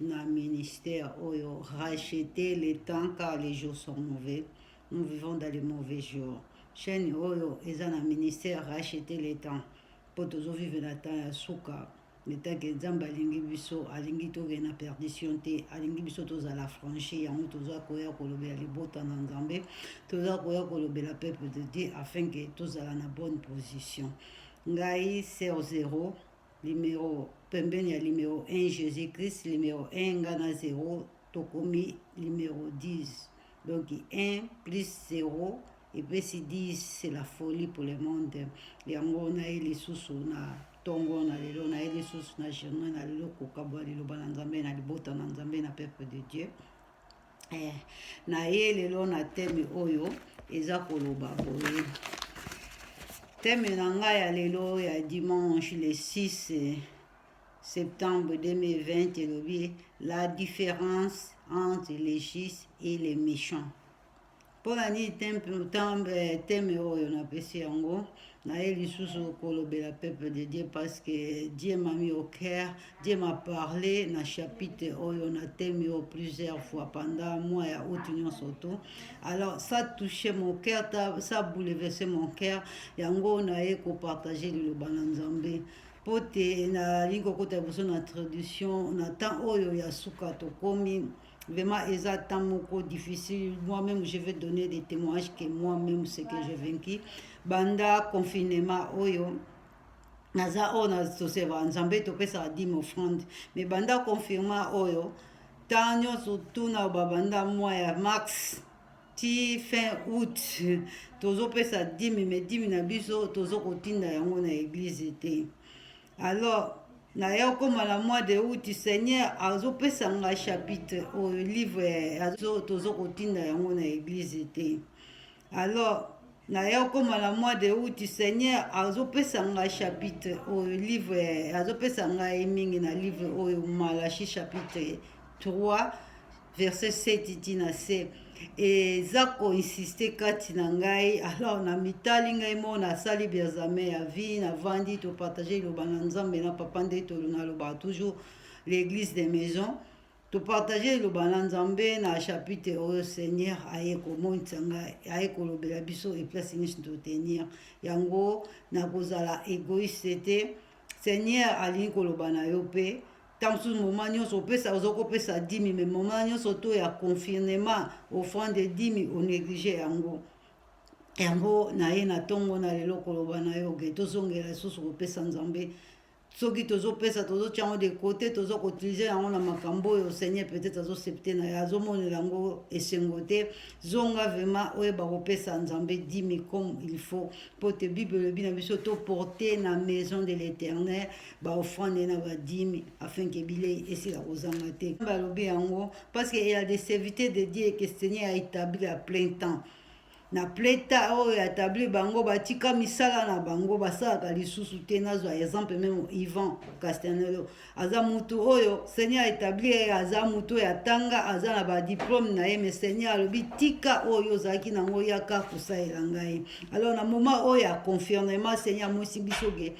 na ministère oyo rachete le temps car les jours sont mauvais nous vivons dans les mauvais jours chaîne oyo eza na ministère rachete le temps mpo tozovive na temps ya suka letake nzambe alingi biso alingi tokee na perdition te alingi biso tozala franchi yango toza koya kolobela libota na nzambe toza koya kolobela peuple de dieu afin ke tozala na bonne position ngai ser zero Limero pembeni ya limero 1 Jesus Christ, limero 1 nga na 0 tokomi limero 10. Donc 1 plus 0 epesi 10 c'est la folie pour le monde yango naye lisusu na ntongo na lelo naye lisusu na germain na lelo kokabwa liloba na nzambe na libota na nzambe na peuple de dieu eh, na ye lelo na teme oyo eza koloba boye teme na ngai ya lelo ya dimanche le 6 eh, septembre 2020 elobi la différence entre les justes et les méchants mpo na nini teme oyo napesi yango naye lisusu kolobela peuple de dieu parce que dieu m'a mis au cœur dieu m'a parlé na chapitre oyo na teme oyo plusieurs fois pendant mois ya août nyonso to alors ça touche mon cœur ça bouleverse mon cœur yango naye kopartage liloba na nzambe mpo te nalingi kokota liboso na tradition na temps oyo ya suka tokomi Vraiment, eza temps moko difficile. Moi-même, je vais donner des témoignages que moi-même, ce que j'ai vaincu. Banda confinement, oyo. Oh naza oyo na toseva nzambe topesaka dime offrande mais banda confirma oyo ntan nyonso tuna babanda mwa ya max ti fin août tozopesa dime mais dime na biso tozokotinda yango na eglize te alors naye okoma na mois de août seigneur azopesa nga chapitre oyo livre tozo kotinda yango na eglise te alors naye okoma na mois de août seigneur azopesa nga chapitre oyo livre azopesa ngai mingi na livre oyo malachi chapitre 3 verset 7 ti na se eza koinsiste kati na ngai alors na mitali ngai moo nasali biazame ya vie navandi topartage liloba na nzambe na papa nde tolonaloba toujours l'église de maison topartage liloba na nzambe na chapitre oyo seigneur aye komonisa ngai aye kolobela biso eplace nyonso totenir yango nakozala egoiste te seigneur alingi koloba na yo mpe ntango mosusu moma nyonso opesa oza kopesa dimi me moma nyonso to ya confinement offrande dimi onéglige yango yango na ye na ntongo na lelo koloba na yo ke tozongela lisusu kopesa nzambe soki tozopesa tozotya yango de kote toza koutilize yango na makambo oyo seigneur peut-être azosepte na ye azomonela yango esengo te zonga vraimen oyeba kopesa nzambe dimi comme il faut mpo te bible elobi na biso toporte na maison de l'éternel baofrande na badimi afin ke bilei esila kozanga te balobi yango parce que ya de serviteur de dieu que seigneur a établi à plein temps na pleta oyo ya tabli bango batika misala na bango basalaka lisusu te nazwa exemple meme ivan castanelo aza mutu oyo seigneur etabli ye aza mutu oyo atanga aza na badiplome na ye mais seigneur alobi tika oyo ozalaki nango yaka kosalela ngai alors na moment oyo ya confirmement seigneur amosi biso ke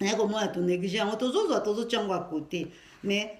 naye komona tonéglige yango tozozwa tozotya yango à côté mais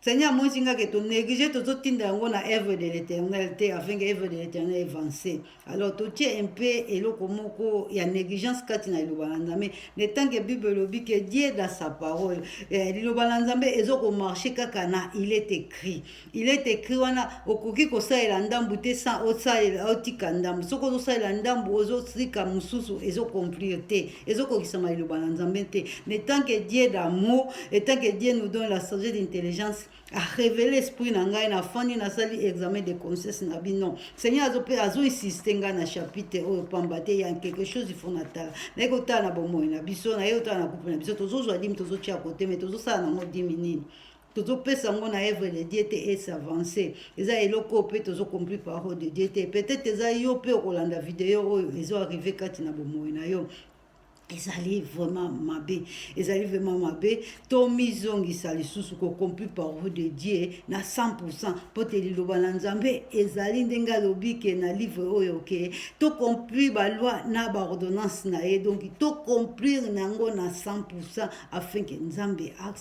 seigneur amonisi nga ke tonéglige tozotinda yango na œuvre de l'éternel te afin que œuvre de l'éternel evance alors totie un peu eloko moko ya négligence kati na liloba na nzambe na tant que bible elobi ke dieu dans sa parole eh, liloba na nzambe ezokomarche kaka na il est écrit il est écrit wana okoki kosalela ndambu te sans osalela otika ndambu soki ozosalela ndambu ozotika mosusu ezocomplir te ezokokisama liloba na nzambe te mais tant que dieu d'amour et tant que dieu nous donne la sagesse d'intelligence arevele esprit na ngai nafandi nasali examen de conscience na bino seigneur azo mpe azoinsiste ngai na chapitre oyo pamba te ya quelque chose ifo natala naye kotala na bomoi na biso naye kotala na kupe na biso tozozwa dimi tozotia kote me tozosala nango dimi nini tozopesa yango na œuvre de dieu te e s'avance eza eloko oyo mpe tozocompli parole de dieu te peut-être eza yo mpe okolanda video oyo ezo arrive kati na bomoi na yo ezali vraiment mabe ezali vraiment mabe tomizongisa lisusu kocompli parole de dieu na 100 mpo te liloba na nzambe ezali ndenge alobi ke na livre oyo ke tocomplir baloi na baordonnance na ye donc tocomplir na yango na 100 afin ke nzambe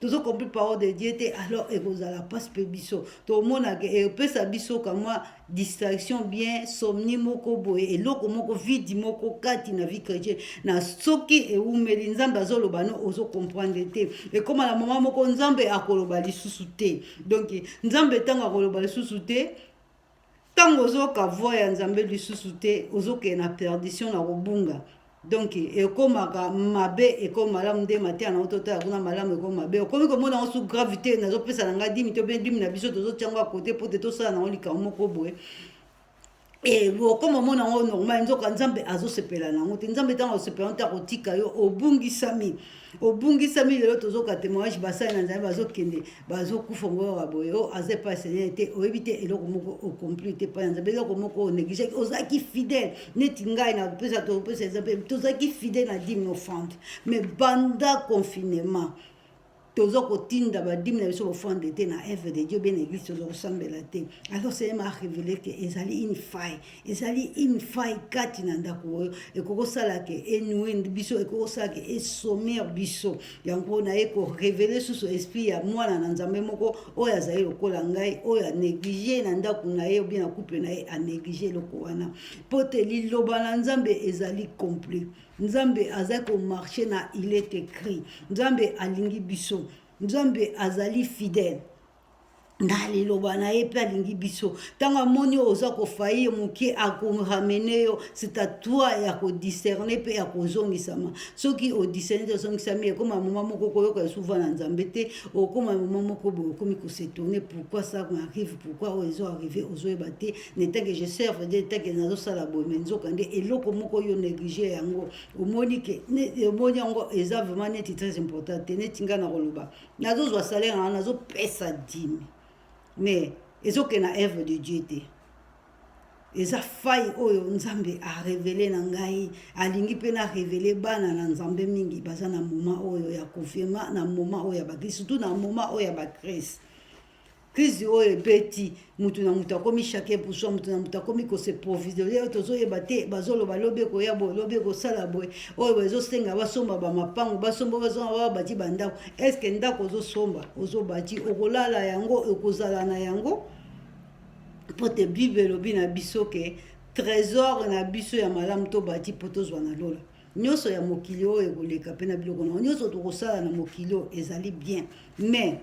tozo compris parole de dieu te alors ekozala mpasi mpe biso tomonaka epesa biso kamwa distraction bien somni moko boye eloko moko vidi moko kati na vie chrétien na soki ewumeli nzambe azoloba no ozo comprendre te ekoma na moma moko nzambe akoloba lisusu te donk nzambe ntango akoloba lisusu te ntango ozoyoka voi ya nzambe lisusu te ozokende na perdition na kobunga donk ekomaka mabe ekomi malamu nde mateya na ototala kuna malamu ekomi mabe okomi komona yango su gravité nazopesa na ngai dimi to mpe dimi na biso tozotya yango ya kote mpo te tosala nango likambo moko boye Eh, okoma omona yango normal nzoka nzambe azosepela na yango te nzambe ntango azosepela yango te akotika yo obungisami obungisami lelo tozoka témoignage basali na nzambe bazokende bazokufa ngo kaka boye o oh, aza epai ya seigneur te oyebi te eloko moko ocompli te epai ya nzambe eloko moko onégligaki ozalaki fidèle neti ngai na pesa topesa exemple tozalaki fidèle na dime offrande mais banda confinement toza kotinda badimi na biso bofande te na eve de dieu bie na eglise toza kosambela te alors seigneur ma révélé ke ezali une faille ezali une faille kati na ndako oyo ekoki kosala ke enoue biso ekoki kosala ke esommer biso yango naye korevele susu esprit ya mwana na nzambe moko oyo azali lokola ngai oyo anéglige na ndako na ye obie na couple na ye anéglige eloko wana mpo te liloba na nzambe ezali complet nzambe azali komarche na il est écrit nzambe alingi biso nzambe azali fidèle na liloba na ye mpe alingi biso ntango amoni oyo oza kofaye moke akoramene yo c'est à toi ya kodiscerne mpe ya kozongisama soki odiscerne te ozongisami ekoma moma moko koyoka esuva na nzambe te okoma moma moko boye okomi kosetourne pourquoi ça m'arrive pourquoi oyo ezo arrive ozoyeba te netake je serve de netake nazosala boye me nzoka nde eloko moko yo néglige yango omoni ke omoni yango eza vraiment neti très important te neti ngai na koloba nazozwa salaire na nazopesa dime mais ezokende na œuvre de dieu te eza fai oyo nzambe arevele na ngai alingi mpe na revele bana na nzambe mingi baza na moma oyo ya confinement na moma oyo ya bakrist surtout na moma oyo ya bakrist crise oyo ebeti motu na motu akomi chacun pour soi motu na motu akomi kose provisorie oyo tozoyeba te bazoloba lobi ekoya boye lobi ekosala boye oyo bazosenga basomba bamapango basomba bazonga baa bati bandako estce ndako ozosomba ozobati okolala yango okozala na yango mpo te bible elobi na biso ke trésor na biso ya malamu tobati mpo tozwa na lola nyonso ya mokili oyo ekoleka mpe na biloko na yango nyonso tokosala na mokili oyo ezali bien mais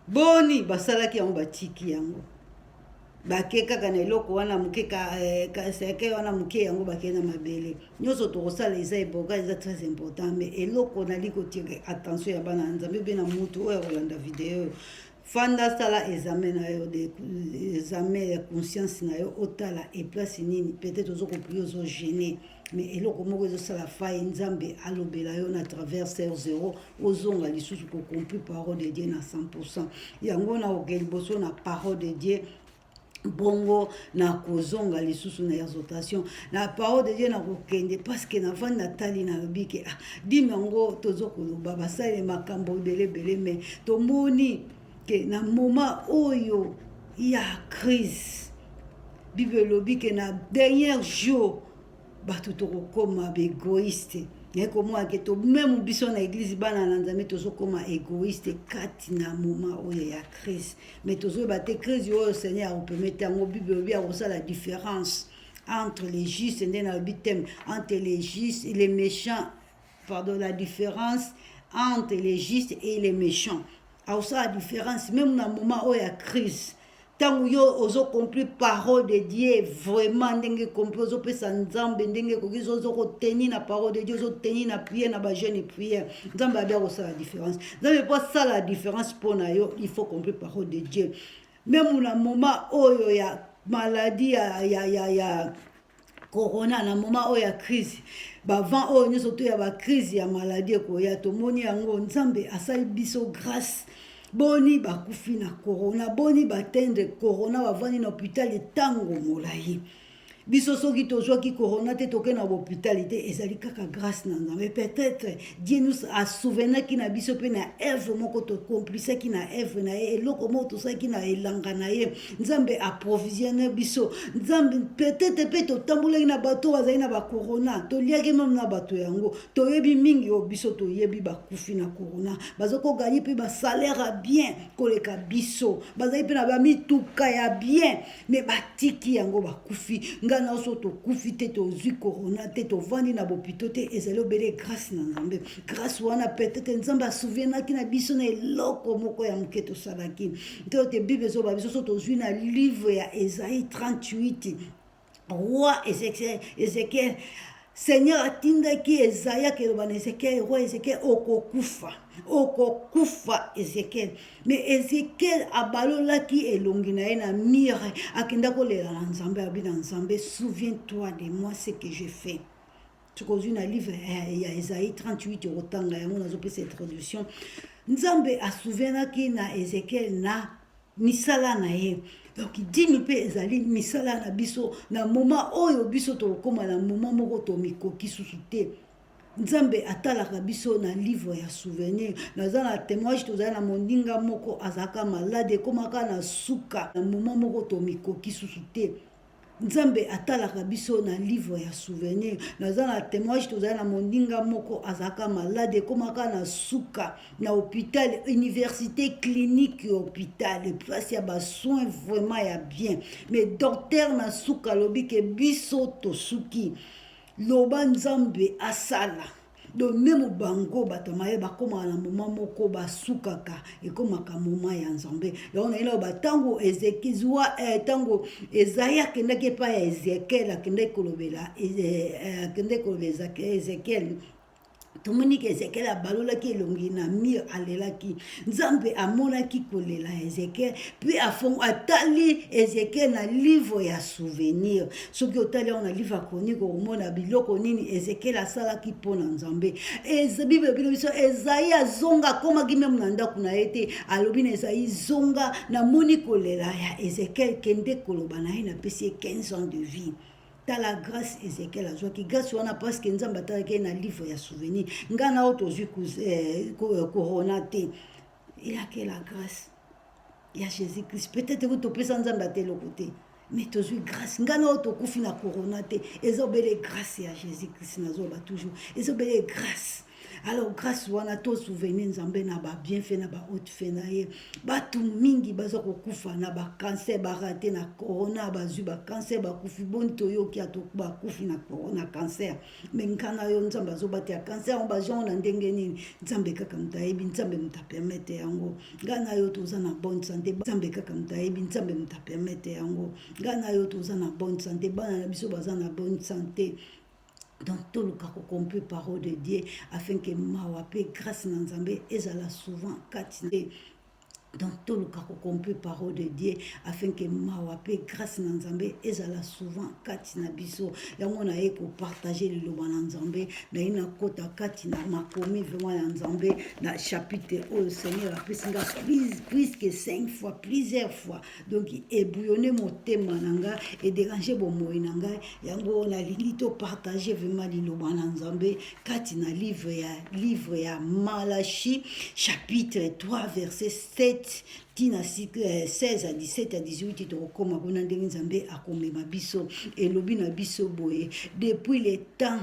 boni basalaki yango batiki yango bake kaka na eloko wana moke eh, kaseke wana moke yango bakei na mabele nyonso tokosala eza eboka eza très important mais eloko nali kotire attention ya bana ya nzambe mpe na motu oyo akolanda video oyo fanda sala examen na yo de examen ya conscience na yo otala eplace nini peut-être ozo koplie ozo gene mais eloko moko ezosala faille nzambe alobela yo na travers ser zero ozonga lisusu kocompli parole de dieu na 100 pourcent yango na oke liboso na parole de dieu bongo nakozonga lisusu na exhortation na parole de dieu nakokende parceke navandi natali nalobi ke ah, dime yango tozo koloba basali makambo ebele ebele me tomoni ke na moma oyo ya crise bible elobi ke na dernier jour bato tokokoma baegoiste naye komona ke to meme biso na eglise bana na nzambe tozokoma egoiste kati na moment oyo ya crise mais tozoyeba te crise oyo seigneur akopermete yango bible olobi akosala différence entre les justes nde nalobi teme entre les justes les méchants pardon la différence entre les justes et les méchants aosala différence même na moment oyo ya crise ntango yo ozo compris parole de dieu vraiment ndenge compris ozopesa nzambe ndenge ekoki ozokoteni na parole de dieu ozoteni na priere na bajeune priere nzambe abi akosala différence nzambe mpo asala différence mpo na yo il faut compris parole de dieu meme na moment oyo ya maladie ya, ya, ya, ya corona na moment oyo ya crise bavant oyo nyonso to ya bacrise ya maladie ekoya tomoni yango nzambe asali biso grâce boni bakufi na corona boni batendre corona bavandi na hopitali ntango molai biso soki tozwaki corona te toke na bohopitali te ezali kaka grâce na nzambe peut-être Dieu nous a souvenaki na biso mpe na evre moko tocomplisaki na evre na ye eloko moko tosalaki na elanga na ye nzambe aprovisione biso nzambe petete mpe totambolaki na bato oyo bazali na bakorona toliaki meme na bato yango toyebi mingi oyo biso toyebi bakufi na korona bazokoganye mpe basalaire ya bien koleka biso bazali mpe na bamituka ya bien me batiki yango bakufi ngai na oso tokufi te tozwi corona te tovandi na bopito te ezali obele grâce na nzambe grâce wana peut-être nzambe asouvienaki na biso na eloko moko ya moke tosalaki te ote bible ezoba biso so tozwi na livre ya esai 38 roi ezekiel Seigneur atindaki Ezaya keloba na Ezekiel, roi Ezekiel okokufa, okokufa Ezekiel. Mais Ezekiel abalolaki elongi na ye na mire, akenda kolela na Nzambe, abi na Nzambe, souviens-toi de moi ce que j'ai fait. tokozwi na livre eh, ya ezai 38 okotanga yango nazopesa introduction nzambe asouvenaki na ezekiel na misala na ye donc dimi mpe ezali misala na biso na moma oyo biso tokokóma na moma moko tomikoki susu te nzambe atalaka biso na livre ya souvenir naza na témoignage tozali na moninga moko azalaka malade ekomaka na suka na moma moko tomikoki susu te nzambe atalaka biso na livre ya souvenir naza na témoignage tozali na moninga moko azalaka malade ekomaka na suka na hôpital université clinique ya hôpital eplasi ya basoin vraiment ya bien mais docteur na suka alobi ke biso tosuki loba nzambe asala donc meme bango bato maye bakomaka na moma moko basukaka ekomaka moma ya nzambe yango nayina oba ntango ezekiziwa ntango eh, ezai akendaki epai ya ezekiel akendaki kolobela eh, eh, akendaki kolobela ezekiel tomoni ke ezekiel abalolaki elongi na mire alelaki Nzambe amonaki kolela ya Ezekiel mpe afongo atali Ezekiel na livre ya souvenir. Soki otali yango na livre ya Chronique okomona biloko nini Ezekiel asalaki mpo na Nzambe. Bible elobi na biso Ezayi azonga akomaki meme na ndako na ye te, alobi na Ezayi zonga, namoni kolela ya Ezekiel, kende koloba na ye napesi ye 15 ans de vie. tala grace ezekiel azwaki grace wana parceke nzambe atalaki ye na livre ya souvenir ngai na oyo tozwi eh, eh, corona te eyake la grace ya jésus christ peut-être ko topesa nzambe ata eloko te mais tozwi grace ngai na oyo tokufi na corona te eza obele grace ya jésus christ nazoloba toujours eza obele grace alors grâce wana to souvenir nzambe na ba bienfait na ba haute fait na ye bato mingi baza kokufa na ba cancer barate na corona bazwi ba cancer bakufi boni toyoki ato bakufi na corona cancer me ngai na yo nzambe azobatela cancer yango bajango na ndenge nini nzambe kaka moto ayebi nzambe moto apermete yango ngai na yo toza na bonne sante nzambe kaka moto ayebi nzambe moto apermete yango ngai na yo toza na bonne sante bana na biso baza na bonne sante donc toluka kocomprendre parole de dieu afin ke mawa mpe grâce na nzambe ezala souvent kati nde donc toluka kocomprendre parole de dieu afin ke mawa mpe grâce na nzambe ezala souvent kati na biso yango naye kopartage liloba na nzambe naye nakota kati na makomi vraimen ya nzambe na chapitre oyo seigneur apesi nga puisque cinq fois plusieurs fois donc ebouillonne motema na nga ederange bomoi na ngai yango nalingi topartage vraimen liloba na nzambe kati na livre ya livre ya malachi chapitre 3 verset 7 ntina 16 a 17 a 18 tokokoma kuna ndenge nzambe akomema biso elobi na biso boye depuis le temps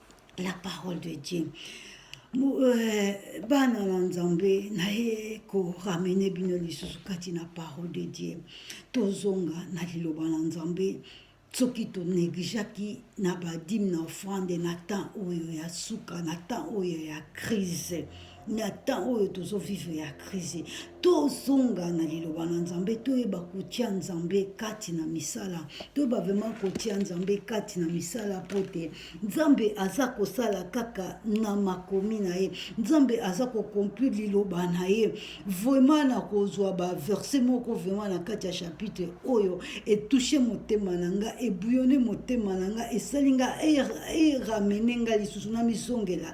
la parole de Dieu euh, bana na nzambe naye koramene bino lisusu kati na parole de Dieu tozonga na liloba na nzambe soki tonegligeaki na badime na offrande na temps oyo ya suka na temps oyo ya crise na temps oyo tozo vivre ya crise tozonga na liloba na nzambe toyeba kotia nzambe kati na misala toyeba vraimen kotia nzambe kati na misala mpo te nzambe aza kosala kaka na makomi na ye nzambe aza kocomplir liloba na ye vraimen na kozwa baverse moko vraimen na kati ya chapitre oyo etouche motema na nga ebuyone motema na nga esali nga eramene nga lisusu na mizongela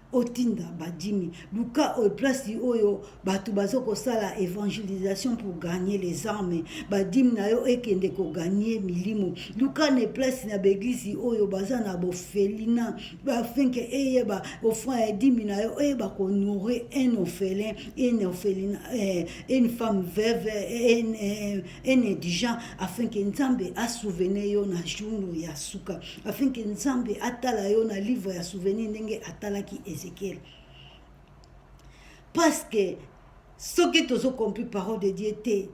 otinda ba djimi luka oyo place oyo bato bazo kosala evangelisation pour gagner les armes badime na yo ekende koganie milimo luka ne place na baeglise oyo baza na bofelina afin ke eyeba ofran ya dimi na yo eyeba konourrir un orphelin une orphelina eh, une femme veuve un eh, indigent afin ke nzambe asouvenir yo na jour ya suka afin que nzambe atala yo na livre ya souvenir ndenge atalaki ezekiel parce que soki tozokompli parole de dieu te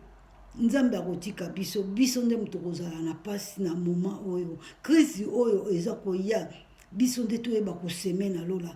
nzambe akotika biso biso nde moto kozala na mpasi na moment oyo crise oyo eza koya biso nde toyeba koseme na lola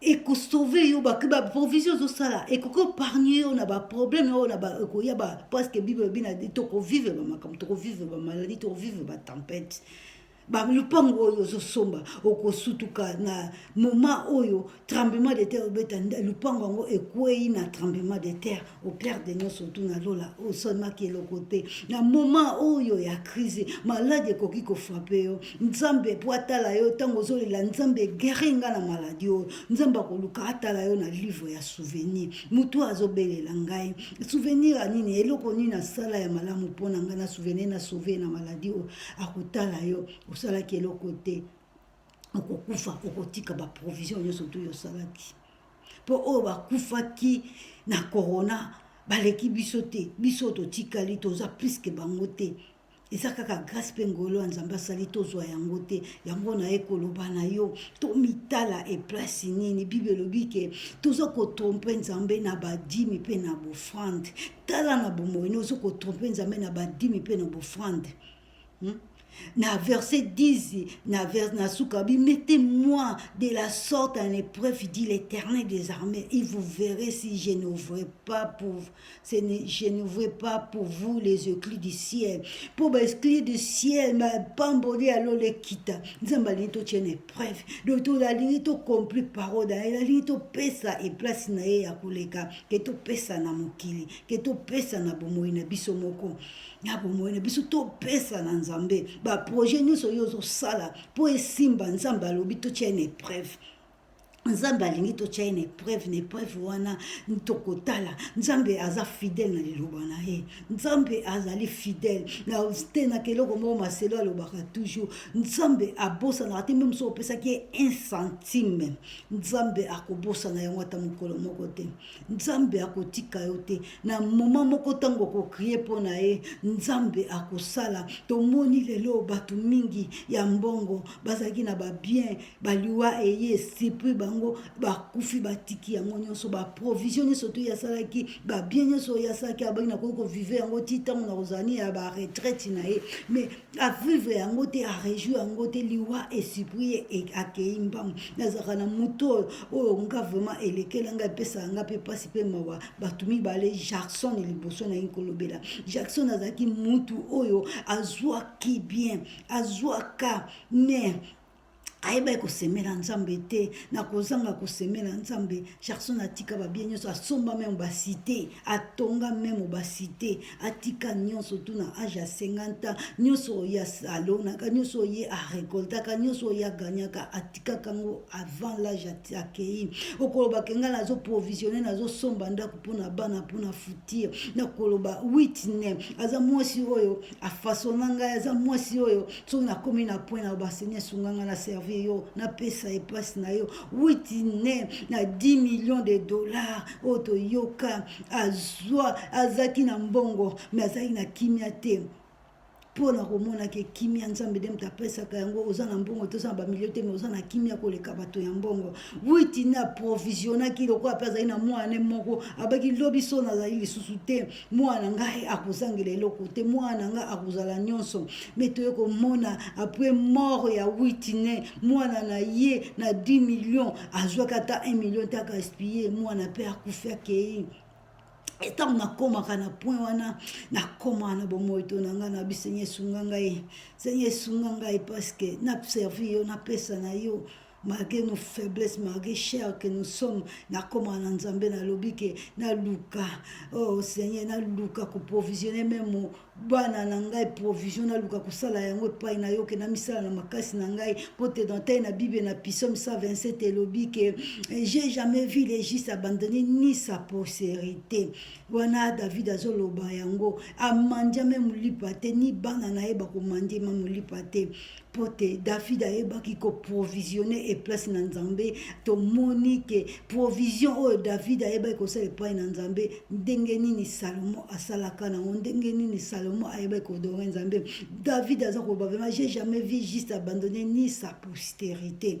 eko sauver yo ba ba provision zo sala eko ko pargner yo na ba problème yo na ba eko ya ba parce que bible bi na to ko vivre ba makam to ko vivre ba maladie to ko vivre ba tempête ba lupango oyo zo somba oko sutuka na moment oyo tremblement de terre obeta lupango ngo ekwei na tremblement de terre au clair de nyonso tu na lola osalaki eloko te na moment oyo ya crise maladi ekoki kofrape yo nzambe mpo atala yo ntango ozolela nzambe egeri nga na maladi oyo nzambe akoluka atala yo na livre ya souvenir motu azobelela ngai souvenir ya nini eloko nini nasala ya malamu mpo na ngai na souvenir na sauve na maladi oyo akotala yo osalaki eloko te okokufa okotika baprovision nyonso tu yosalaki mpo oyo bakufaki na corona baleki biso te biso totikali toza plus ke bango te eza kaka grâce mpe ngolo ya nzambe asali tozwa yango te yango naye koloba na yo tomitala eplasi nini bible elobi ke toza kotrompe nzambe na badimi mpe na bofrande tala na bomoi ne oza kotrompe nzambe na badimi mpe na bofrande hmm? na verset 10 na, vers, na suka bi mettez-moi de la sorte en épreuve dit l'éternel des armées et vous verrez si je n'ouvre pas pour je n'ouvre pas pour vous les éclus du ciel mpo baesclus du ciel mapamboli ya lola ekita nzambe alingi totya na épreuve donc tolalingi tocompli parole na ye nalingi topesa eplace na ye ya koleka ke topesa na mokili ke topesa na bomoi na biso moko na bomoi na biso topesa na nzambe baprojet nyonso oyo ozosala mpo esimba nzambe alobi totya na epreuve nzambe alingi totya ye na epreuve na epreuve wana tokotala nzambe aza fidele na liloba na ye nzambe azali fidele na tenaka eloko moko maselo alobaka toujours nzambe abosanaka te mpe mosusu opesaki ye un centime nzambe akobosana yango ata mokolo moko te nzambe akotika yo te na moma moko ntango okokrie mpo na ye nzambe akosala tomoni lelo bato mingi ya mbongo bazalaki na babien baliwa eye esipri bango bakufi batiki yango nyonso baprovision nyonso to yasalaki babien nyonso oyo asalaki abaki nakoki kovive yango ti ntango na kozalani ya baretraite na ye mais avivre yango te arejui yango te liwa esuprie akei mbangu nazalaka na moto oyo oyo nga vraiment elekela ngai epesaka ngai mpe mpasi mpe mawa bato mibale jackson liboso naye kolobela jackson azalaki mutu oyo azwaki bien azwaka mais ayebaki kosemela nzambe te na kozanga kosemela nzambe gerson atika babie nyonso asomba meme basite atonga meme basite atika nyonso tu na age ya 50 ans nyonso oyo alonaka nyonso oye arekoltaka nyonso oyo aganyaka atikaka yango avant lage akei okoloba kenga nazo provisionne nazosomba ndako mpona bana mpona futir nakoloba witne aza mwasi oyo afasona ngai aza mwasi oyo soki nakomi na point na ba seigneur sunga nga na servir yo napesa ye place na yo witine na 10 millions de dollars oyo toyoka azwa azalaki na mbongo mais azalaki na kimia te mpo na komonaki kimia nzambe nde moto apesaka yango oza na mbongo te oza na bamilio te mai oza na kimia koleka bato ya mbongo witine aprovisionnaki lokola mpe azali na mwana moko abaki lobi so nazali lisusu te mwana na ngai akozangela eloko te mwana na ngai akozala nyonso me toye komona apres mort ya witine mwana na ye na 10 million azwaki ata 1 million te akaspille mwana mpe akufi akei ntango nakomaka na point wana nakoma na bomoi to na ngai na bi senye esunga ngai senye esunga ngai parceke na servir yo napesa na yo malgré nos faiblesses malgré cher que nous sommes nakoma na nzambe nalobi ke naluka oh seigneur naluka koprovisione meme bana na ngai provision naluka kosala yango epai na yo ke namisala na makasi na ngai mpo te dans tai na bible na pisome 127 elobi ke eh, j'ai jamais vu les juste abandonné ni sa postérité wana david azoloba yango amandiame molipa te ni bana na ye bakomandiema molipa te mpo te david ayebaki koprovisione eplace na nzambe tomoni ke provision oyo david ayebaki kosala epai na nzambe ndenge nini salomo asalaka nango ndenge nini salomo ayebaki kodore nzambe david aza koloba vraimen j'ai jamais vu juste abandonne ni sa posterité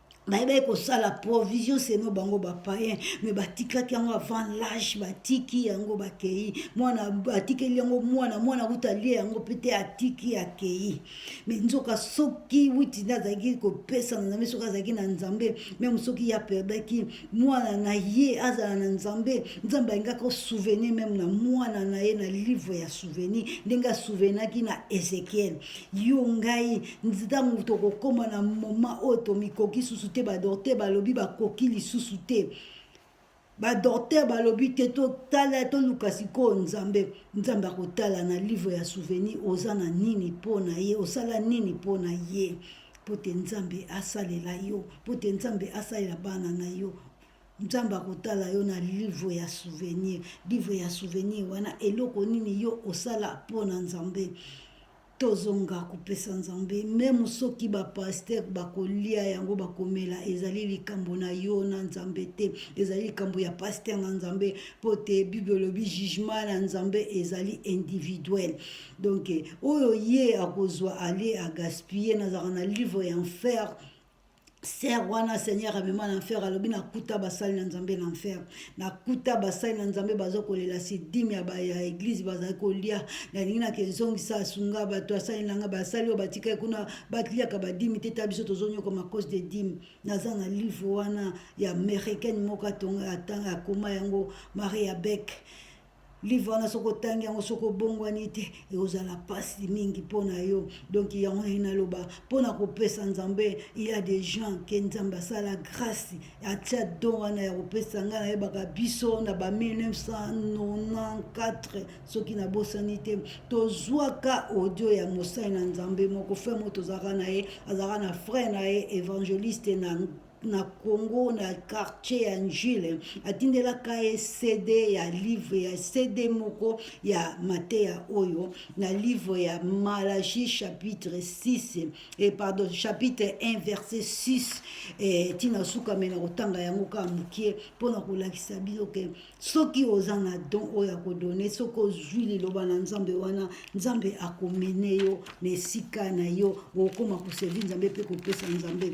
bayebaki kosala provision seno bango bapayen me batikaki yango avant lage batiki yango bakei mwana atikeli yango mwana mwana kutu alie yango mpe te atiki akei me nzoka soki witi nde azalaki kopesa na nzambe soki azalaki na nzambe meme soki ye aperdaki mwana na ye azala na nzambe nzambe alingaki osouvenir meme na mwana na ye na livre ya souvenir ndenge asouvenaki na ezekiel yo ngai ntango tokokoma na moma oyo tomikoki susu te badokter balobi bakoki lisusu te badokter balobi te totala toluka sikoyo nzambe nzambe akotala na livre ya souvenir oza na nini mpo na ye osala nini mpo na ye mpo te nzambe asalela yo mpo te nzambe asalela bana na yo nzambe akotala yo na livre ya souvenir livre ya souvenir wana eloko nini yo osala mpo na nzambe tozonga kopesa nzambe meme soki bapaster bakolia yango bakomela ezali likambo na yo na nzambe te ezali likambo ya paster na nzambe mpo te bible elobi jugement na nzambe ezali individuel donk oyo ye akozwa alie agaspille nazalaka na livre ya enfer Sœur wana Seigneur amema na enfer alobi na kuta basali na Nzambe na enfer. Na kuta basali na Nzambe bazo kolela si dime ya ba ya église bazali kolia. Na lingi na kenzongi sa sunga bato asali na nga basali oyo batika kuna batliaka ba dime te ta biso tozo nyoko ma cause de dime. Naza na livre wana ya américaine moko atonga atanga akoma yango Maria Beck. livre wana soki otangi yango soki obongwani te ekozala mpasi mingi mpo na yo donk yango nai naloba mpo na kopesa nzambe il ya des gens ke nzambe asala grâce atia don wana ya kopesa ngai nayebaka biso na ba 1994 soki nabosani te tozwaka audio ya mosali na nzambe moko fre moko tozalaka na ye azalaka na frère na ye évangéliste na na congo na quartier ya njile atindelaka ye cd ya livre ya cd moko ya mateya oyo na livre ya malachi chapitre 6 e pardon chapitre 1 verset 6 e, ntina suka me na kotanga yango kaka mokie mpo na kolakisa bino ke soki oza na don oyo ya kodone soki ozwi liloba na nzambe wana nzambe akomene yo na esika na yo okoma kosevi nzambe mpe kopesa nzambe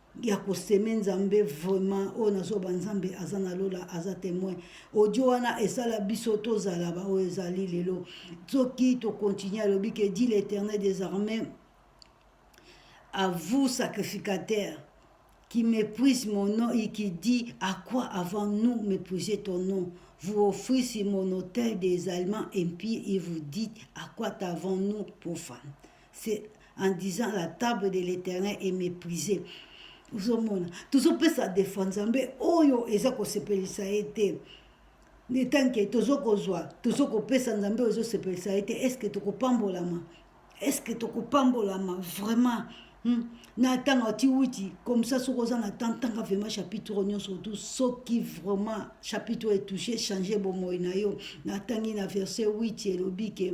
ya ko seme nzambe vraiment oyo na zoba nzambe aza na lola aza temoin audio wana esala biso tozala baoyo ezali lelo soki tokontinue alobi ke dit l'éternel des armées à vous sacrificateur qui méprise mon nom et qui dit à quoi avant nous mépriser ton nom vous offrez sur mon autel des allemands impies et vous dites à quoi t'avons-nous pour femme c'est en disant la table de l'éternel est méprisée ozomona tozopesa defa nzambe oyo eza kosepelisa ye te etanke tozokozwa tozokopesa nzambe oyo ezosepelisa ye te estce tokopambolama estce tokopambolama vraiment Hmm. na ntango atiwiti komisa soki oza na temps ntanga vraiment chapitre oyo nyonso otu soki vraiment chapitre oyo etouche change bomoi na yo natangi na verset 8 elobi ke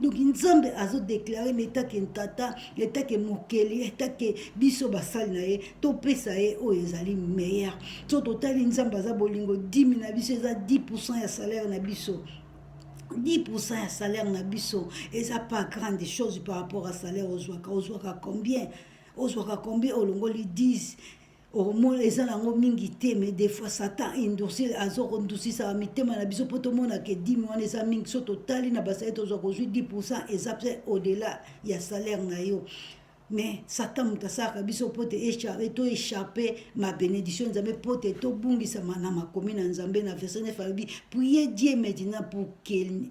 donc nzambe azodeklare na etake ntata etake mokeli etake biso basali na ye topesa ye oyo ezali meilleur so totali nzambe aza bolingo dimi na biso eza 10 pourcent ya salaire na biso 10% ya salaire na biso eza pas grande chose par rapport à salaire ozwaka ozwaka combien ozwaka combien olongoli 10 omona eza nango mingi te mais des fois satan endurcir azokondusisaka mitema na biso mpo tomona ke dime wana eza mingi so totali na basali tozwa kozwi 10 pourcent eza mpe au-delà ya salaire na yo mais satan moto asalaka biso mpo te to échappe ma bénédiction nzambe mpo te tobungisama na makomi na nzambe na verset 9 alobi prier dieu maintenant pour qu'il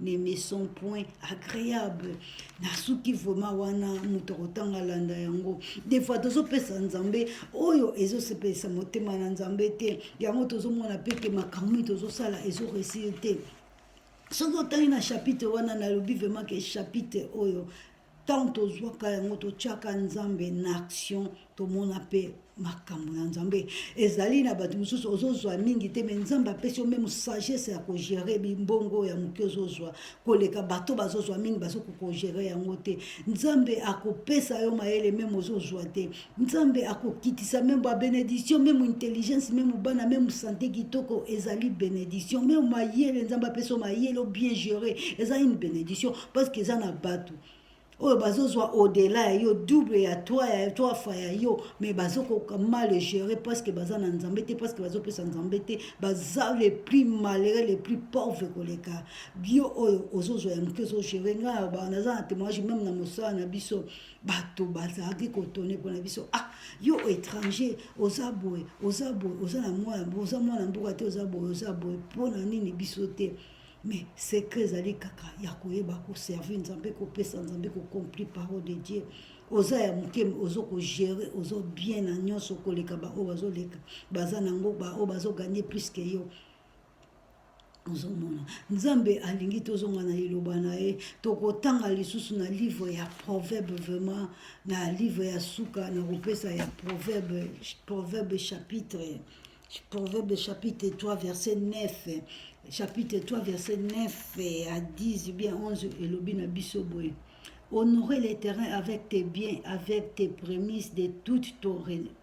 ne me sont point agréable nasuki vraimen wana moto akotanga alanda yango defoi tozopesa nzambe oyo ezosepelisa motema na nzambe te yango tozomona mpe te makambo nini tozosala ezoresir te soki otangi na chapitre wana nalobi vraimen ke chapitre oyo ntango tozwaka yango totyaka nzambe na action tomona mpe makambo na nzambe ezali na bato mosusu ozozwa mingi te me nzambe apesi yo meme sagesse ya kogere bimbongo ya moke ozozwa koleka bato bazozwa mingi bazoki kogere yango te nzambe akopesa yo mayele meme ozozwa te nzambe akokitisa meme ba benediction meme intelligence meme bana meme sante kitoko ezali benediction meme mayele nzambe apesa mayele bien gere eza une benediction parce que eza na bato oyo bazozwa odela ya yo double ya toi ya toi fa ya yo mais bazokoka mal gere parce que baza na nzambe te parce que bazopesa nzambe te baza le plus malere le plus pauvre koleka bio oyo ozozwa ya moke ozogere ngai naza na témoignage meme na mosala na biso bato bazalaki kotone mpona biso ah yo étranger oza boye oza boye oza na mwana oza mwana mboka te oza boye oza boye mpona nini biso te mais secret ezali kaka ya koyeba koservir nzambe kopesa nzambe kocompli parole de dieu oza ya moke ozo kogere ozo bien na nyonso koleka baoyo bazoleka baza nango baoyo bazoganye plus ke yo ozomona nzambe alingi tozonga na liloba na ye tokotanga lisusu na livre ya proverbe vraiment na livre ya suka na kopesa ya proverbe proverbe chapitre proverbe chapitre 3 verset 9 chapitre 3 verset 9 à 10 bien 11 elobi na biso boye honorer les terrains avec tes biens avec tes prémices de toute ton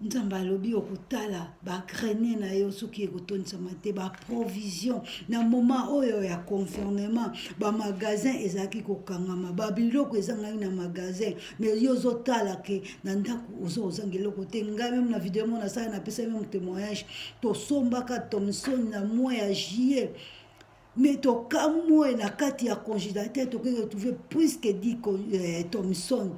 nzambe alobi okotala bagrene na yo soki ekotondisama te baprovision na moma oyo ya confernement bamagasin ezalaki kokangama babiloko ezangaki na magasin me yo ozotala ke na ndako ozo ozanga eloko te ngai meme na video mona asala napesaki meme témoignage tosombaka thomson na mois ya juillet mais tokamwe na kati ya congélateur tokoki retrouve plus que di eh, thomson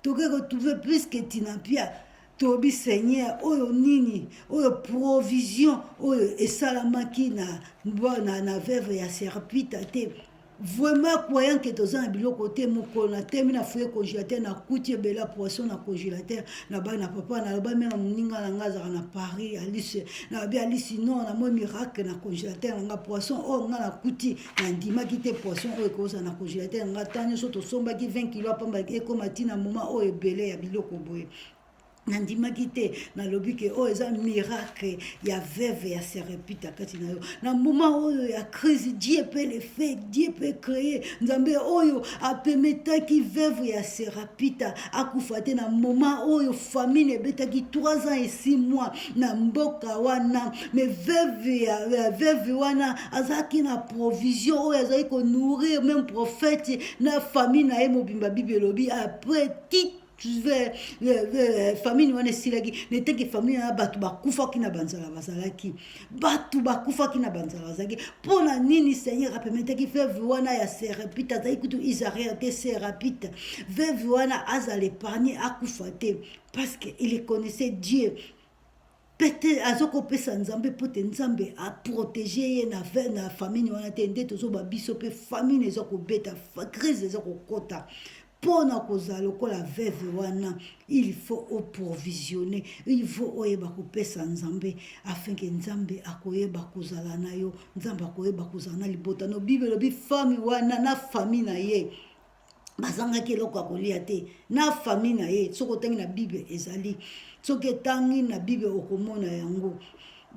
tokoki retrouve plus que tinapia toyebi seigneur oyo nini oyo provision oyo esalamaki na, na, na veuve ya serpita te vraiment croyant ke toza na biloko te mokolo na temi na foye congélateur nakuti ebela poisson na congélateur nabai na papa naloba meme moninga na ngai azalaka na paris alice nalobi alice non namoi miracle na congélateur na ngai poisson oyo ngai nakuti nandimaki te poisson oyo ekozala na congélateur na ngai ntango nyonso tosombaki 20 kilo apamba ekoma ntina moma oyo ebele ya biloko boye nandimaki te nalobi ke oyo oh, eza miracle ya veve ya serepita kati na yo na moma oyo ya crise die mpe lefe die mpe cree nzambe oyo apemetaki veve ya serapita akufa te na moment oyo famine ebetaki 3 ans et 6 mois na mboka wana mais veuve ya veuve wana azalaki na provision oyo azalaki konourrir meme prophète na famille na ye mobimba bibi elobi après tite Euh, euh, famille wana esilaki neteke famille wana bato bakufaki na banzala bazalaki bato bakufaki na banzala bazalaki mpo na nini seigneur apemetaki veve wana ya serapite azalaki kutu isaria te serapite veve wana azala epargne akufa te parce que il connaissait dieu pete azokopesa nzambe mpo te nzambe aprotege ye na, na famine wana te nde tozoba biso mpe famine eza kobeta crise eza kokota mpo na kozala lokola veuve wana il faut oprovisionne il faut oyeba kopesa nzambe afin ke nzambe akoyeba kozala na yo nzambe akoyeba kozala na libota no bible elobi fami wana na fami na ye bazangaki eloko ya kolia te na fami na ye soki otangi na bible ezali soki etangi na bible okomona yango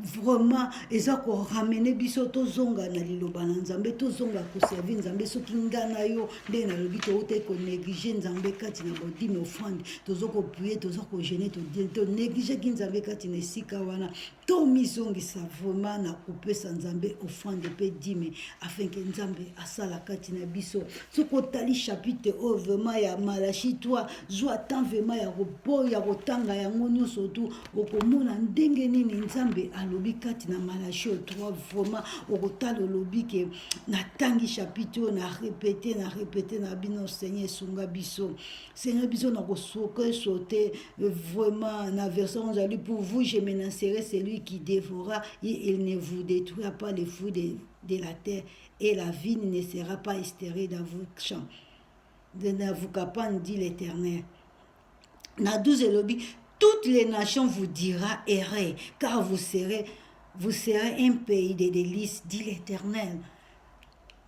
vraiment eza koramene biso tozonga na liloba na nzambe tozonga koservi nzambe soki nga na yo ndenge nalobi toutaki konéglige nzambe kati na bodime offrande toza koprie toza kogene tonégligeki nzambe kati na esika wana tomizongisa vraiment na kopesa nzambe offrande mpe dime afin ke nzambe asala kati na biso soki otali chapitre oyo vraiment ya malachi 3 zwa temps vraiment ya repos ya kotanga yango nyonso tu okomona ndenge nini nzambe alobi kati na malachi oyo trois vraiment okotala olobi ke natangi chapitre oyo na repete na repete na bino seigneur esunga biso seigneur biso na kosoke sote euh, vraiment na verset oyo ozali pour vous je menacerai celui qui dévora et il ne vous détruira pas le fruit de, de la terre et la vigne ne sera pas estere dans vos champs ne vous capant dit l'éternel na 12 elobi toutes les nations vous dira errez car vous serez vous serez un pays de délices dit l'éternel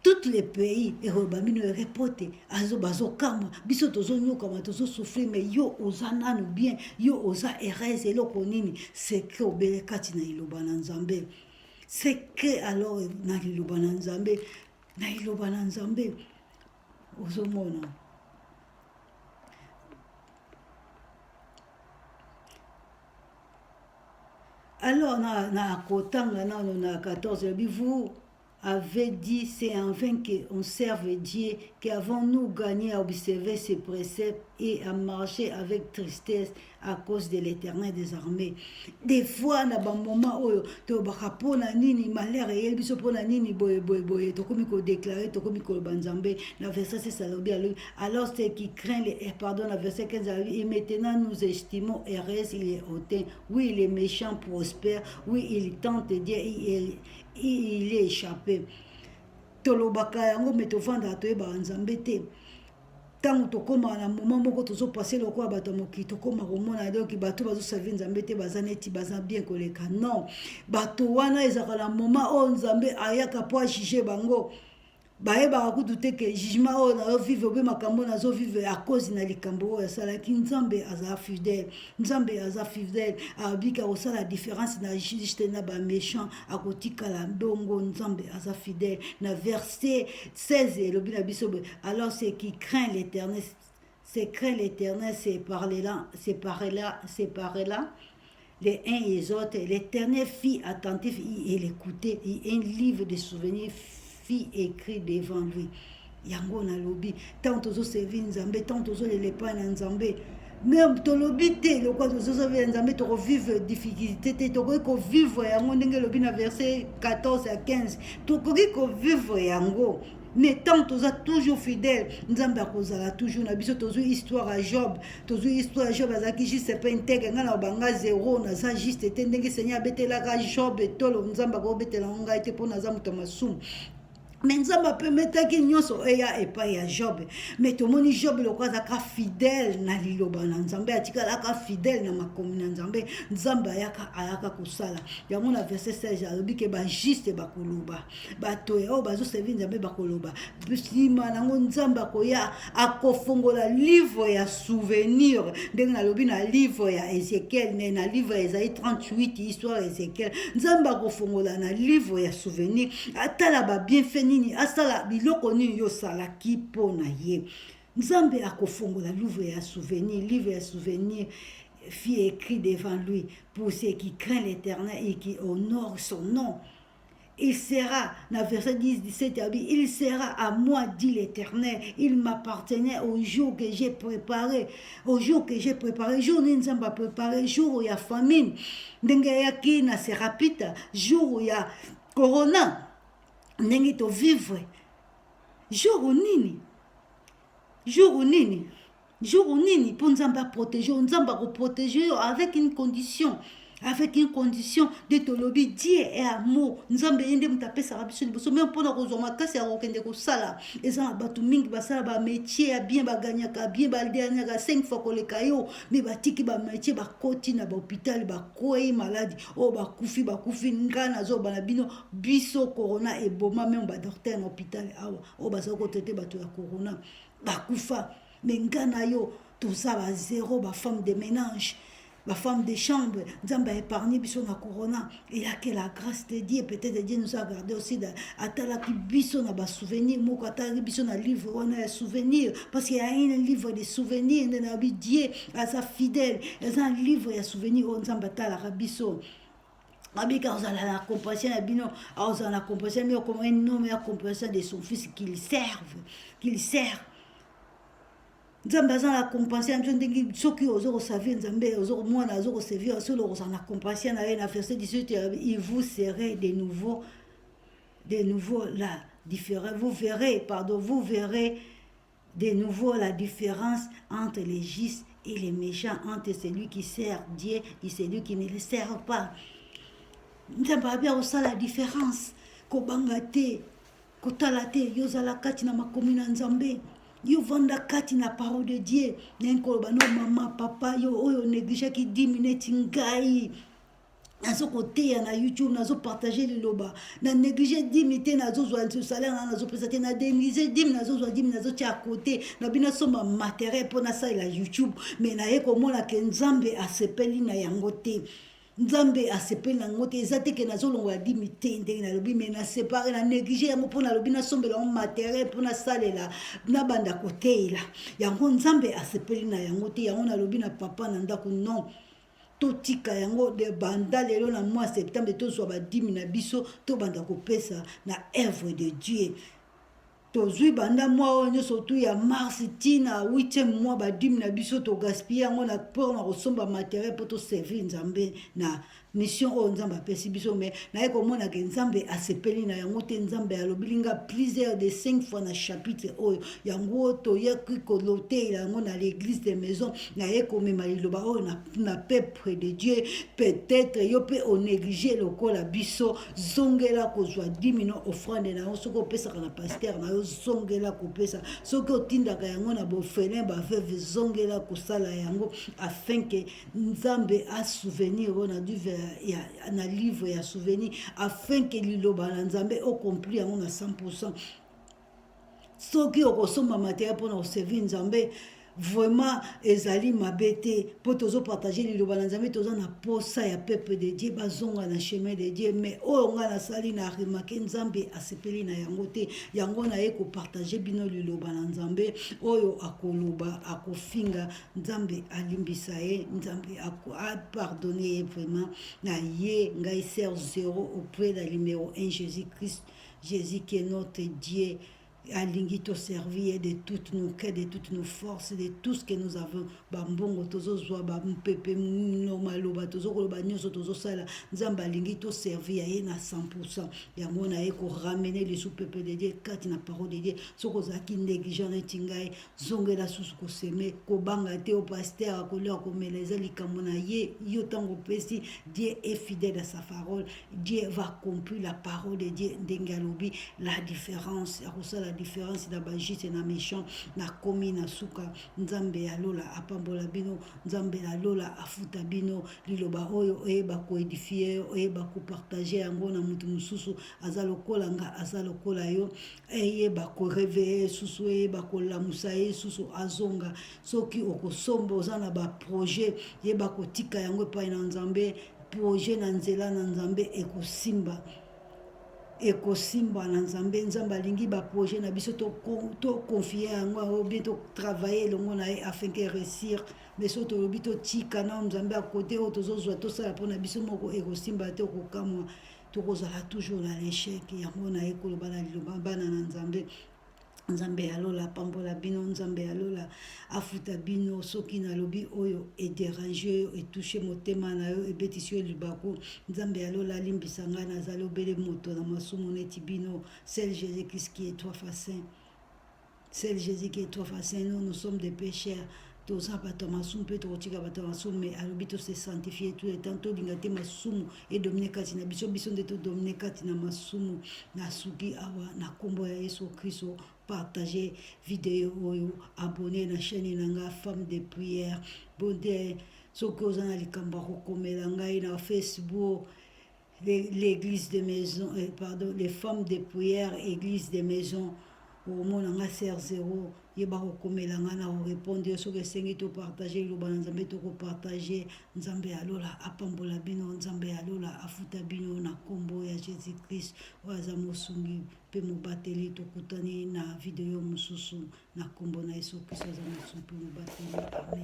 toutes les pays ekoloba bino ere po te azo bazokamwa biso tozonyokama tozosouffrir me yo oza nanu bien yo oza heureuse eloko nini sekre obele kati na liloba na nzambe sekre alors na liloba na nzambe na liloba na nzambe ozomona alors na, na kotanga nano na 14 lobi vous avait dit c'est en vain qu'on serve Dieu qu'avons-nous gagné à observer ses préceptes et à marcher avec tristesse à cause de l'éternel des armées des fois na bamoment oyo tolobaka mpo na nini malheur eyeli biso mpo na nini boye boye boye tokomi kodeklare tokomi koloba nzambe na verset 6 alobi alobi alors ce qui craint les eh, pardon na verset 15 alobi et maintenant nous estimons heureuse il est hautain oui il est méchant prospère oui il tente dieu il, il, il est échappé tolobaka yango me tofandaka toyebaka nzambe te ntango tokoma na moma moko tozopase lokola bato ya mokili tokoma komona donki bato bazosavi nzambe te baza neti baza bien koleka non bato wana ezalaka na moma oyo nzambe ayaka mpo ajuge bango bayebaka kutu te ke jugement oyo nazovive obe makambo oyo nazovive ya cause na likambo oyo asalaki nzambe aza fidèle nzambe aza fidèle abiki akosala différence na juste na baméchant akotikala ndongo nzambe aza fidèle na verset 16 elobi na biso boye alors ce qui craint l'éternel se craint l'éternel se parlela se parlela se parlela les uns et les autres l'éternel fit attentif et l'écoutait un livre de souvenirs fit écrit devant lui yango nalobi ntango tozoservi nzambe ntango tozolela epai na nzambe meme tolobi te lokola tozozobe ya nzambe tokovivre difficulté te tokoki kovivre yango ndenge elobi na verset 14 ya 15 tokoki kovivre yango mais tant toza toujours fidèle nzambe akozala toujours na biso tozwi histoire ya job tozwi histoire ya job azalaki juste mpe nteke ngai na obanga zero naza juste te ndenge seigneur abetelaka job etolo nzambe akobetela ngo ngai te mpo naza moto ya masumu me nzambe apemetaki nyonso eya epai ya job me tomoni job lokola azalaka fidèle na liloba na nzambe atikalaka fidèle na makomi na nzambe nzambe ayaka ayaka kosala yango na verset 16 alobi ke bajuste bakoloba bato ya oyo bazoservi nzambe bakoloba nsima nango nzambe akoya akofungola livre ya souvenir ndenge nalobi na livre ya ezekiel me na livre ezali 38 histoire ya ezekiel nzambe akofungola na livre ya souvenir atala babienfe nini asala biloko nini yo osalaki mpo na ye nzambe akofungola livre ya souvenir livre ya souvenir fit écrit devant lui pour ceux qui craint l'éternel et qui honore son nom il sera na verset 10 17 abi il sera à moi dit l'éternel il m'appartenait au jour que j'ai préparé au jour que j'ai préparé jour nini nzambe apréparé jour ya famine ndenge ayaki na serapita jour ya corona ndenge tovivre jour nini jour nini jour nini mpo nzambe aprotege yo nzambe akoprotege yo avec une condition avec une condition de tolobi die e amo nzambe ye nde moto apesaka biso liboso meme mpona kozwa makasi ya kokende kosala eza na bato mingi basala bametie ya bien baganyaka bien badernaka 5 fois koleka yo me batiki bametie bakoti na bahôpital bakwei maladi oyo oh, bakufi bakufi ngai nazoba na bino biso corona eboma meme badoktere na hôpital awa oyo oh, bazali kotraite bato ya corona bakufa me nga na yo toza ba zero ba femme de ménage ba femme de chambre nzambe aépargne biso na corona eya que la grâce de dieu peut-être dieu nous a gardé aussi atalaki biso na basouvenir moko atalaki biso na livre wana ya souvenir parce que ya un livre de souvenir nde nayebi dieu aza fidèle eza un livre ya souvenir oyo nzambe atalaka biso Abiki azala na compassion na bino, azala na compassion na bino, comme un homme ya compassion de son fils qu'il serve, qu'il sert. nzambe aza na compassion ya biso ndenge soki oza koservir nzambe mwana aza koservir solo okozala na compassion na ye na verset 18 ya il vous serez de nouveau de nouveau là différent vous verrez pardon vous verrez De nouveau la difference entre les justes et les méchants, entre celui qui sert Dieu et celui qui ne le sert pas. Nzambe abi akosala différence, kobanga te, kotala te, yo ozala kati na makomi na Nzambe. yo vanda kati na parole de dieu naye koloba no mama papa yo oyo negligaki 10 minutes ngai nazo koteya na youtube nazo partage liloba na néglige dimi te nazozwa salaire na nazopesa te na denise dimi nazozwa dimi nazotya ya kote na bino asomba materiel mpo nasalela youtube mai naye komona ke nzambe asepeli na yango te nzambe asepeli na yango te eza te ke nazolongola dimi te ndenge nalobi mai nasepare na néglige yango mpo nalobi nasombela yango materiel mpo nasalela nabanda koteyela yango nzambe asepeli na yango te yango nalobi na papa na ndako non Totika yango de banda lelo na mois septembre tozwa badimi na biso tobanda kopesa na œuvre de Dieu. tozwi banda mwa oyo nyonso tu ya mars ti na 8e mwa badime na biso togaspille yango na mpo na kosomba materiel mpo toservir nzambe na mission oyo nzambe apesi biso mai naye komona ke nzambe asepeli na yango te nzambe alobili nga plusieurs de 5 fois na chapitre oyo yango toyaki kolotela yango na l'église de maison naye komema liloba oyo na, na peuple de dieu peut-être yo mpe onéglige lokola biso zongela kozwa 10 million offrande na yo soki opesaka na pasteur na yo zongela kopesa soki otindaka yango na bofelin baveve zongela kosala yango afin ke nzambe asouvenir oyo na duve ya, na livre ya souvenir afin ke liloba na nzambe okompli yango na 100 soki okosomba mateya mpona koservir nzambe vraiment ezali mabe te mpo tozopartage liloba na nzambe toza na posa ya peuple de dieu bazonga na chemin de dieu mais oyo ngai nasali na remake nzambe asepeli na yango te yango naye kopartage bino liloba na nzambe oyo akoloba akofinga nzambe alimbisa ye nzambe apardonne ye vraiment na ye ngai ser zero auprès na numero 1 jésus christ Jesus qui est notre Dieu alingi to servir ye de toutes nos cœurs de toutes nos forces de tout ce que nous avons bambongo tozozwa bampepe no maloba tozokoloba nyonso tozosala nzambe alingi to servir ya ye na 100 pourcent yango na ye koramene lisu pepe de dieu kati na parole de dieu soki ozalaki négligent neti ngai zongela susu koseme kobanga te o paster akolia komela eza likambo na ye yo ntango opesi dieu est fidèle à sa parole dieu va accomplir la parole de dieu ndenge alobi la différence akosala différence na bajuste na méchant nakomi na suka nzambe ya lola apambola bino nzambe ya lola afuta bino liloba oyo oyeba koedifie oyeba kopartage yango na moto mosusu aza lokola nga aza lokola yo eyeba koreveille ye susu eyeba kolamusa ye susu azonga soki okosomba oza na baprojet yeba kotika yango epai na nzambe projet na nzela na nzambe ekosimba ekosimba na nzambe nzambe alingi baprojet na biso toconfie to yango yango bien totravaille elongo na ye afin ke réussir mais so tolobi totika na nzambe akote oyo tozozwa tosala mpona biso moko ekosimba te okokamwa tokozala toujours na l'echec yango na ye koloba na liloba bana na nzambe nzambe ya lola apambola bino nzambe ya lola afuta bino soki nalobi oyo ederange yo etushe motema na yo ebetisi yo libaku nzambe ya lola alimbisa ngai nazali obele moto na masumu neti bino sel jesus christ qui est trois facin Seul Jésus qui est trop facile, nous, nous sommes des pécheurs. toza bato ya masumu mpe tokotika bato ya masumu me alobi tose sanctifie tout le temps tolinga te masumu edomine kati na biso biso nde todomine kati na masumu nasuki awa na nkombo ya yesu kristo partage video oyo abonne na chaîne na ngai femme de prière bonte soki oza na likambo ya kokomela ngai na facebook l'église de maison euh, pardon les femmes de prière église de maison omona nga ser zero ye bakokomela nga na korepondre yo soki esengi topartage liloba na nzambe tokopartage nzambe ya lola apambola bino nzambe ya lola afuta bino na nkombo ya jésus christ oyo aza mosungi mpe mobateli tokutani na video mosusu na nkombo na yesu kristo aza mosungi mpe mobateli amen